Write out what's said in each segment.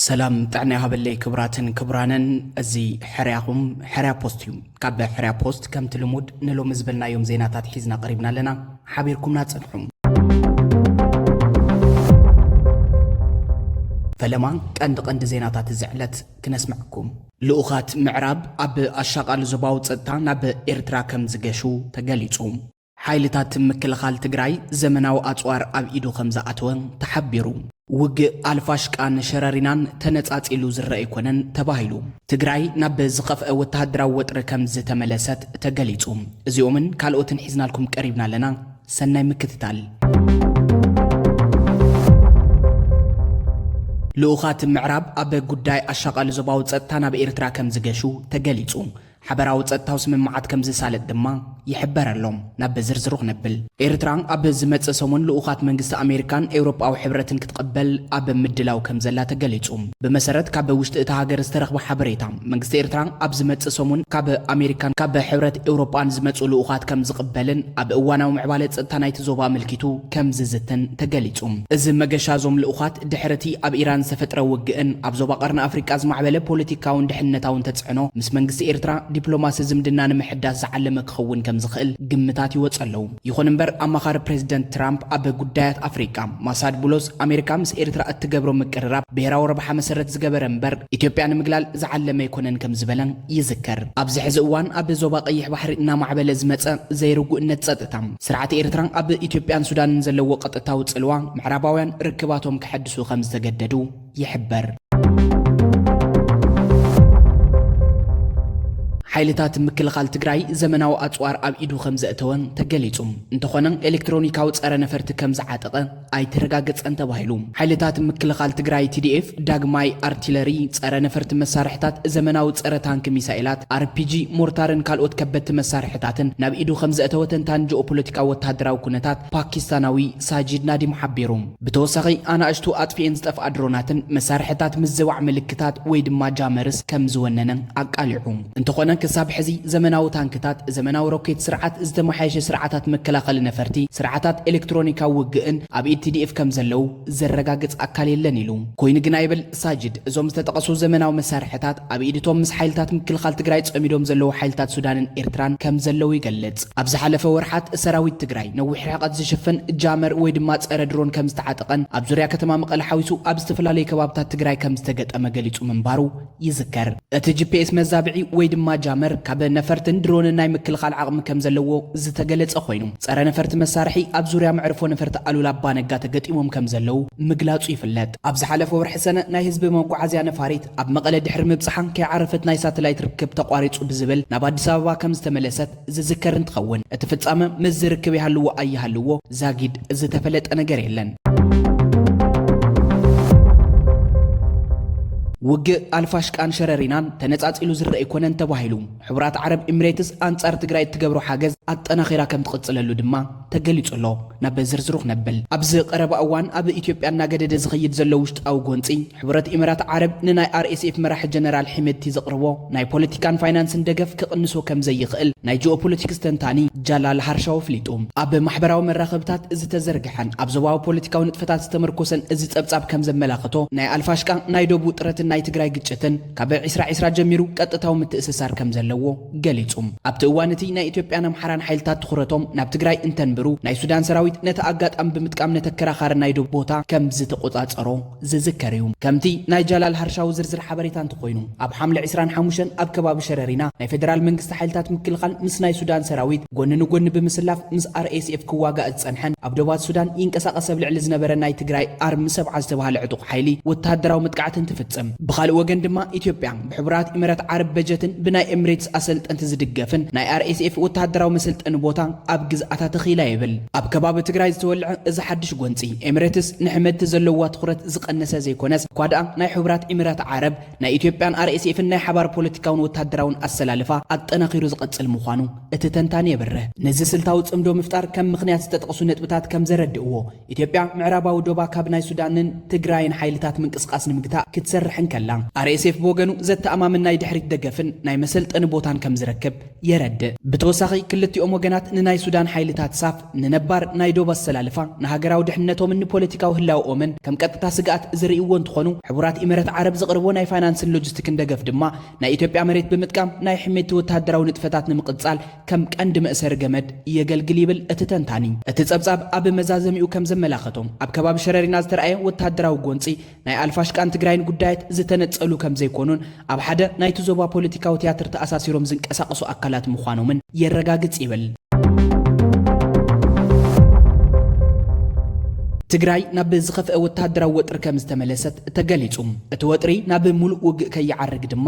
ሰላም ጥዕና ይሃበለይ ክብራትን ክብራንን እዚ ሕርያኹም ሕርያ ፖስት እዩ ካብ ሕርያ ፖስት ከምቲ ልሙድ ንሎሚ ዝበልናዮም ዜናታት ሒዝና ቀሪብና ኣለና ሓቢርኩምና ጽንሑ ፈለማ ቀንዲ ቀንዲ ዜናታት እዚ ዕለት ክነስምዐኩም ልኡኻት ምዕራብ ኣብ ኣሻቓሊ ዞባዊ ጸጥታ ናብ ኤርትራ ከምዝገሹ ተገሊጹ። ሓይልታት ምክልኻል ትግራይ ዘመናዊ ኣጽዋር ኣብ ኢዱ ከምዝኣተወ ተሓቢሩ። ውግእ ኣልፋሽቃን ሸረሪናን ተነጻጺሉ ዝረኣ ኣይኮነን ተባሂሉ። ትግራይ ናብ ዝኸፍኣ ወተሃደራዊ ወጥሪ ከምዝተመለሰት ተገሊጹ። እዚኦምን ካልኦትን ሒዝናልኩም ቀሪብና ኣለና። ሰናይ ምክትታል። ልኡኻት ምዕራብ ኣብ ጉዳይ ኣሻቓሊ ዞባዊ ጸጥታ ናብ ኤርትራ ከምዝገሹ ተገሊጹ። ሓበራዊ ጸጥታዊ ስምምዓት ከምዝሳለጥ ድማ ይሕበር ኣሎ። ናብ ዝርዝሩ ክነብል። ኤርትራ ኣብ ዝመጽእ ሰሙን ልኡኻት መንግስቲ ኣሜሪካን ኤውሮጳዊ ሕብረትን ክትቐበል ኣብ ምድላው ከምዘላ ተገሊጹ። ብመሰረት ካብ ውሽጢ እታ ሃገር ዝተረኽበ ሓበሬታ፣ መንግስቲ ኤርትራ ኣብ ዝመጽእ ሰሙን ካብ ኣሜሪካን ካብ ሕብረት ኤውሮጳን ዝመጹ ልኡኻት ከም ዝቕበልን ኣብ እዋናዊ ምዕባለ ጸጥታ ናይቲ ዞባ ኣመልኪቱ ከም ዝዝትን ተገሊጹ። እዚ መገሻ እዞም ልኡኻት ድሕሪ እቲ ኣብ ኢራን ዝተፈጥረ ውግእን ኣብ ዞባ ቀርኒ ኣፍሪቃ ዝማዕበለ ፖለቲካውን ደሕንነታውን ተጽዕኖ ምስ መንግስቲ ኤርትራ ዲፕሎማሲ ዝምድና ንምሕዳስ ዝዓለመ ክኸውን ከም ዝኽእል ግምታት ይወጹ ኣለዉ። ይኹን እምበር ኣማኻሪ ፕሬዝደንት ትራምፕ ኣብ ጉዳያት ኣፍሪቃ ማሳድ ቡሎስ፣ ኣሜሪካ ምስ ኤርትራ እትገብሮ ምቅርራብ ብሄራዊ ረብሓ መሰረት ዝገበረ እምበር ኢትዮጵያ ንምግላል ዝዓለመ ኣይኮነን ከምዝበለ ይዝከር። ኣብዚ ሕዚ እዋን ኣብ ዞባ ቀይሕ ባሕሪ እናማዕበለ ዝመፀ ዘይርጉእነት ፀጥታ፣ ስርዓት ኤርትራ ኣብ ኢትዮጵያን ሱዳንን ዘለዎ ቀጥታዊ ፅልዋ፣ ምዕራባውያን ርክባቶም ከሐድሱ ከምዝተገደዱ፣ ይሕበር። ሓይልታት ምክልኻል ትግራይ ዘመናዊ ኣፅዋር ኣብ ኢዱ ከምዘእተወ ተገሊፁ። እንተኾነ ኤሌክትሮኒካዊ ፀረ ነፈርቲ ከምዝዓጠቐ ኣይተረጋገፀን ተባሂሉ። ሓይልታት ምክልኻል ትግራይ TDF ዳግማይ ኣርቲለሪ፣ ፀረ ነፈርቲ መሳርሕታት፣ ዘመናዊ ፀረ ታንኪ ሚሳኤላት፣ ኣርፒጂ፣ ሞርታርን ካልኦት ከበድቲ መሳርሕታትን ናብ ኢዱ ከምዘእተወ ተንታኒ ጂኦፖለቲካዊ ወታደራዊ ኩነታት ፓኪስታናዊ ሳጂድ ናዲም ሓቢሩ። ብተወሳኺ ኣናእሽቱ ኣጥፊኤን ዝጠፍኣ ድሮናትን መሳርሕታት ምዝባዕ ምልክታት ወይ ድማ ጃመርስ ከም ዝወነነ ኣቃሊዑ። እንተኾነ ክሳብ ሕዚ ዘመናዊ ታንክታት፣ ዘመናዊ ሮኬት ስርዓት፣ ዝተመሓየሸ ስርዓታት መከላኸሊ ነፈርቲ፣ ስርዓታት ኤሌክትሮኒካዊ ውግእን ኣብ ኢድ ቲዲኤፍ ከም ዘለዉ ዘረጋግጽ ኣካል የለን ኢሉ። ኮይኑ ግና ይብል ሳጅድ፣ እዞም ዝተጠቐሱ ዘመናዊ መሳርሕታት ኣብ ኢድ እቶም ምስ ሓይልታት ምክልኻል ትግራይ ፀሚዶም ዘለዉ ሓይልታት ሱዳንን ኤርትራን ከም ዘለዉ ይገልፅ። ኣብ ዝሓለፈ ወርሓት ሰራዊት ትግራይ ነዊሕ ርሕቐት ዝሽፍን ጃመር ወይ ድማ ፀረ ድሮን ከም ዝተዓጠቐን ኣብ ዙርያ ከተማ መቐለ ሓዊሱ ኣብ ዝተፈላለዩ ከባብታት ትግራይ ከም ዝተገጠመ ገሊፁ ምንባሩ ይዝከር። እቲ ጂፒኤስ መዛብዒ ወይ ድማ ጃመር ካብ ነፈርትን ድሮንን ናይ ምክልኻል ዓቕሚ ከም ዘለዎ ዝተገለፀ ኮይኑ ፀረ ነፈርቲ መሳርሒ ኣብ ዙርያ መዕርፎ ነፈርቲ ኣሉላ ኣባ ነጋ ተገጢሞም ከም ዘለዉ ምግላፁ ይፍለጥ። ኣብ ዝሓለፈ ወርሒ ሰነ ናይ ህዝቢ መጓዓዝያ ነፋሪት ኣብ መቐለ ድሕሪ ምብጽሓን ከይዓረፈት ናይ ሳተላይት ርክብ ተቋሪጹ ብዝብል ናብ ኣዲስ ኣበባ ከምዝተመለሰት ዝዝከር እንትኸውን እቲ ፍጻመ ምስዚ ርክብ ይሃልዎ ኣይሃልዎ ዛጊድ ዝተፈለጠ ነገር የለን። ውግእ ኣልፋሽቃን ሸረሪናን ተነጻጺሉ ዝርኣ ኣይኮነን ተባሂሉ። ሕቡራት ዓረብ ኢምሬትስ ኣንጻር ትግራይ እትገብሮ ሓገዝ ኣጠናኺራ ከምትቕጽለሉ ድማ ተገሊጹ ኣሎ። ናብ ዝርዝሩ ክነብል፣ ኣብዚ ቀረባ እዋን ኣብ ኢትዮጵያ እናገደደ ዝኸይድ ዘሎ ውሽጣዊ ጎንጺ፣ ሕቡረት ኢመራት ዓረብ ንናይ RSF መራሒ ጀነራል ሒመድቲ ዘቕርቦ ናይ ፖለቲካን ፋይናንስን ደገፍ ክቕንሶ ከምዘይኽእል ናይ ጂኦፖለቲክስ ተንታኒ ጃላል ሃርሻው ኣፍሊጡ። ኣብ ማሕበራዊ መራኸብታት ዝተዘርግሐን ኣብ ዞባዊ ፖለቲካዊ ንጥፈታት ዝተመርኮሰን እዚ ጸብጻብ ከምዘመላኸቶ፣ ናይ ኣልፋሽቃ ናይ ዶብ ውጥረትን ናይ ትግራይ ግጭትን ካብ ዒስራ ዒስራ ጀሚሩ ቀጥታዊ ምትእስሳር ከምዘለዎ፣ ገሊጹ። ኣብቲ እዋን እቲ ናይ ኢትዮጵያን ኣምሓራን ሓይልታት ትኹረቶም ናብ ትግራይ እንተንብሩ፣ ናይ ሱዳን ሰራዊት ነቲ ኣጋጣሚ ብምጥቃም ነቲ ኣከራኻሪ ናይ ዶብ ቦታ ከምዝተቖጻጸሮ ዝዝከር እዩ። ከምቲ ናይ ጃላል ሃርሻዊ ዝርዝር ሓበሬታ እንተኾይኑ፣ ኣብ ሓምለ ዕስራን ሓሙሽተን ኣብ ከባቢ ሸረሪና ናይ ፌደራል መንግስቲ ሓይልታት ምክልኻል ምስ ናይ ሱዳን ሰራዊት ጎኒ ንጎኒ ብምስላፍ ምስ RSF ክዋጋእ ዝጸንሐን ኣብ ዶባት ሱዳን ይንቀሳቐስ ኣብ ልዕሊ ዝነበረ ናይ ትግራይ ኣርሚ ሰብዓ ዝተባህለ ዕጡቕ ሓይሊ ወተሃደራዊ መጥቃዕቲ እንትፍጽም ብኻልእ ወገን ድማ ኢትዮጵያ ብሕቡራት ኢመረት ዓረብ በጀትን ብናይ ኤምሬትስ ኣሰልጠንቲ ዝድገፍን ናይ RSF ወተሃደራዊ መሰልጠኒ ቦታ ኣብ ግዝኣታ ተኺላ ይብል ኣብ ከባቢ ትግራይ ዝተወልዐ እዚ ሓድሽ ጎንፂ። ኤምሬትስ ንሕመድቲ ዘለዋ ትኹረት ዝቐነሰ ዘይኮነስ እኳ ድኣ ናይ ሕቡራት ኢመራት ዓረብ ናይ ኢትዮጵያን RSFን ናይ ሓባር ፖለቲካውን ወተሃደራውን ኣሰላልፋ ኣጠናኺሩ ዝቐፅል ምዃኑ እቲ ተንታኒ የብርህ። ነዚ ስልታዊ ፅምዶ ምፍጣር ከም ምኽንያት ዝተጠቕሱ ነጥብታት ከም ዘረድእዎ፣ ኢትዮጵያ ምዕራባዊ ዶባ ካብ ናይ ሱዳንን ትግራይን ሓይልታት ምንቅስቓስ ንምግታእ ክትሰርሕ እንከላ፣ RSF ብወገኑ ዘተኣማምን ናይ ድሕሪት ደገፍን ናይ መሰልጠኒ ቦታን ከም ዝረክብ የረድእ። ብተወሳኺ ክልቲኦም ወገናት ንናይ ሱዳን ሓይልታት ሳፍ ንነባር ናይ ዶብ ኣሰላልፋ፣ ንሃገራዊ ድሕንነቶምን ንፖለቲካዊ ህላወኦምን ከም ቀጥታ ስግኣት ዝርእይዎ እንትኾኑ፣ ሕቡራት ኢመረት ዓረብ ዘቕርቦ ናይ ፋይናንስን ሎጂስቲክን ደገፍ ድማ ናይ ኢትዮጵያ መሬት ብምጥቃም ናይ ሕሜቲ ወተሃደራዊ ንጥፈታት ንምቕፃል ከም ቀንዲ መእሰሪ ገመድ የገልግል ይብል እቲ ተንታኒ። እቲ ጸብጻብ ኣብ መዛዘሚኡ ከም ዘመላኸቶ፣ ኣብ ከባቢ ሸረሪና ዝተርኣየ ወተሃደራዊ ጎንጺ፣ ናይ ኣልፋሽቃን ትግራይን ጉዳያት ዝተነጸሉ ከም ዘይኮኑን፣ ኣብ ሓደ ናይቲ ዞባ ፖለቲካዊ ትያትር ተኣሳሲሮም ዝንቀሳቐሱ ኣካላት ምዃኖምን የረጋግጽ ይብል። ትግራይ ናብ ዝኸፍአ ወተሃደራዊ ወጥሪ ከም ዝተመለሰት ተገሊጹ። እቲ ወጥሪ ናብ ሙሉእ ውግእ ከይዓርግ ድማ፣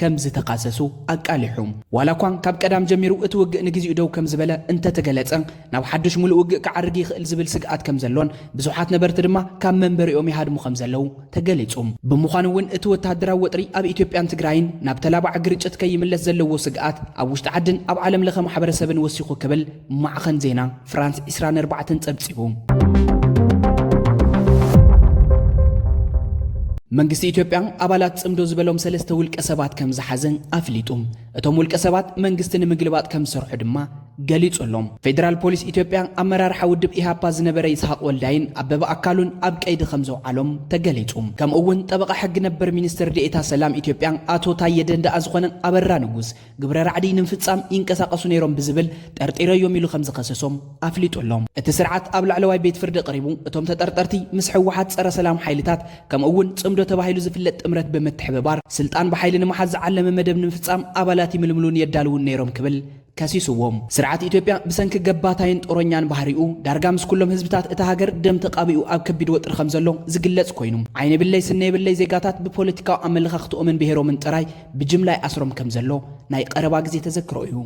ከም ዝተኻሰሱ ኣቃሊሑ። ዋላኳ ካብ ቀዳም ጀሚሩ እቲ ውግእ ንግዚኡ ደው ከም ዝበለ እንተ ተገለጸ፣ ናብ ሓዱሽ ምሉእ ውግእ ክዓርግ ይኽእል ዝብል ስግኣት ከም ዘሎን ብዙሓት ነበርቲ ድማ ካብ መንበሪኦም ይሃድሙ ከም ዘለዉ ተገሊጹ። ብምዃኑ እውን እቲ ወተሃደራዊ ወጥሪ ኣብ ኢትዮጵያን ትግራይን ናብ ተላባዒ ግርጭት ከይምለስ ዘለዎ ስግኣት ኣብ ውሽጢ ዓድን ኣብ ዓለምለኸ ማሕበረሰብን ወሲኹ ክብል ማዕኸን ዜና ፍራንስ ዕስራን ኣርባዕተን ጸብጺቡ። መንግስቲ ኢትዮጵያ ኣባላት ጽምዶ ዝበሎም ሰለስተ ውልቀ ሰባት ከም ዝሓዘ ኣፍሊጡ። እቶም ውልቀ ሰባት መንግስቲ ንምግልባጥ ከም ዝሰርሑ ድማ ገሊጹ ኣሎ። ፌደራል ፖሊስ ኢትዮጵያ ኣመራርሓ ውድብ ኢሃፓ ዝነበረ ይስሃቅ ወልዳይን ኣበበ ኣካሉን ኣብ ቀይዲ ከም ዘውዓሎም ተገሊጹ። ከምኡ እውን ጠበቓ ሕጊ ነበር ሚኒስትር ዴኤታ ሰላም ኢትዮጵያ ኣቶ ታየ ደንደኣ ዝኾነ ኣበራ ንጉስ ግብረ ራዕዲ ንምፍፃም ይንቀሳቐሱ ነይሮም ብዝብል ጠርጢረዮም ኢሉ ከምዝኸሰሶም ኣፍሊጡ ኣሎ። እቲ ስርዓት ኣብ ላዕለዋይ ቤት ፍርዲ ቀሪቡ እቶም ተጠርጠርቲ ምስ ህወሓት ፀረ ሰላም ሓይልታት ከምኡ እውን ፅምዶ ተባሂሉ ዝፍለጥ ጥምረት ብምትሕብባር ስልጣን ብሓይሊ ንምሓዝ ዝዓለመ መደብ ንምፍፃም ኣባላት ይምልምሉን የዳልዉን ነይሮም ክብል ከሲሱዎም። ስርዓት ኢትዮጵያ ብሰንኪ ገባታይን ጦረኛን ባህሪኡ ዳርጋ ምስ ኩሎም ህዝብታት እታ ሃገር ደም ተቃቢኡ ኣብ ከቢድ ወጥሪ ከምዘሎ ዝግለፅ ኮይኑ ዓይኒ የብለይ ስኒ የብለይ ዜጋታት ብፖለቲካዊ ኣመለኻኽትኦምን ብሄሮምን ጥራይ ብጅምላ ይኣስሮም ከም ዘሎ ናይ ቐረባ ግዜ ተዘክሮ እዩ።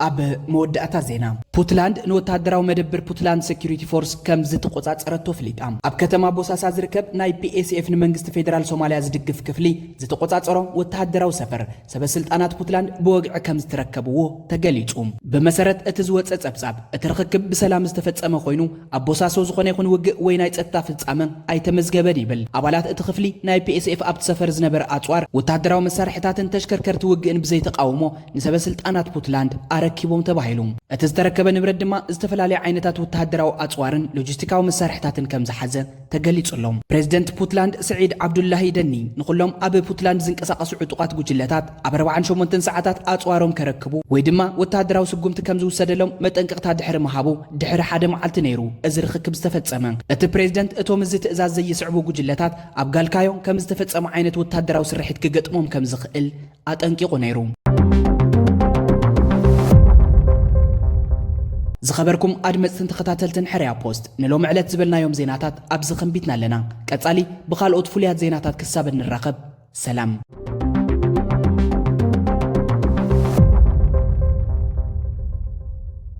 ኣብ መወዳእታ ዜና ፑትላንድ ንወተሃደራዊ መደብር ፑትላንድ ሴኪሪቲ ፎርስ ከም ዝተቆጻጸረቶ ፍሊጣ ኣብ ከተማ ቦሳሳ ዝርከብ ናይ ፒኤስኤፍ ንመንግስቲ ፌደራል ሶማልያ ዝድግፍ ክፍሊ ዝተቆጻጸሮ ወተሃደራዊ ሰፈር ሰበስልጣናት ፑትላንድ ብወግዒ ከም ዝተረከብዎ ተገሊጹ። ብመሰረት እቲ ዝወጸ ጸብጻብ፣ እቲ ርኽክብ ብሰላም ዝተፈጸመ ኮይኑ፣ ኣብ ቦሳሶ ዝኾነ ይኹን ውግእ ወይ ናይ ጸጥታ ፍጻመ ኣይተመዝገበን ይብል። ኣባላት እቲ ክፍሊ፣ ናይ ፒኤስኤፍ ኣብቲ ሰፈር ዝነበረ ኣጽዋር፣ ወተሃደራዊ መሳርሒታትን ተሽከርከርቲ ውግእን ብዘይተቓውሞ ንሰበስልጣናት ፑትላንድ ኣረኪቦም ተባሂሉ። እቲ ዝተረከበ ንብረት ድማ ዝተፈላለየ ዓይነታት ወተሃደራዊ ኣጽዋርን ሎጂስቲካዊ መሳርሒታትን ከም ዝሓዘ ተገሊጹ ኣሎ። ፕረዚደንት ፑትላንድ ስዒድ ዓብዱላሂ ደኒ፣ ንኹሎም ኣብ ፑትላንድ ዝንቀሳቐሱ ዕጡቓት ጉጅለታት ኣብ ኣርብዓን ሸሞንተን ሰዓታት ኣጽዋሮም ከረክቡ ወይ ድማ ወተሃደራዊ ስጉምቲ ከም ዝውሰደሎም መጠንቀቕታ ድሕሪ ምሃቡ ድሕሪ ሓደ መዓልቲ ነይሩ እዚ ርኽክብ ዝተፈጸመ። እቲ ፕረዚደንት እቶም እዚ ትእዛዝ ዘይስዕቡ ጉጅለታት ኣብ ጋልካዮ ከም ዝተፈጸመ ዓይነት ወተሃደራዊ ስርሒት ክገጥሞም ከም ዝኽእል ኣጠንቂቑ ነይሩ። ዝኸበርኩም ኣድመጽትን ተኸታተልትን ሕርያ ፖስት ንሎሚ ዕለት ዝበልናዮም ዜናታት ኣብዚ ከንቢትና ኣለና። ቀጻሊ ብኻልኦት ፍሉያት ዜናታት ክሳብ እንራኸብ ሰላም።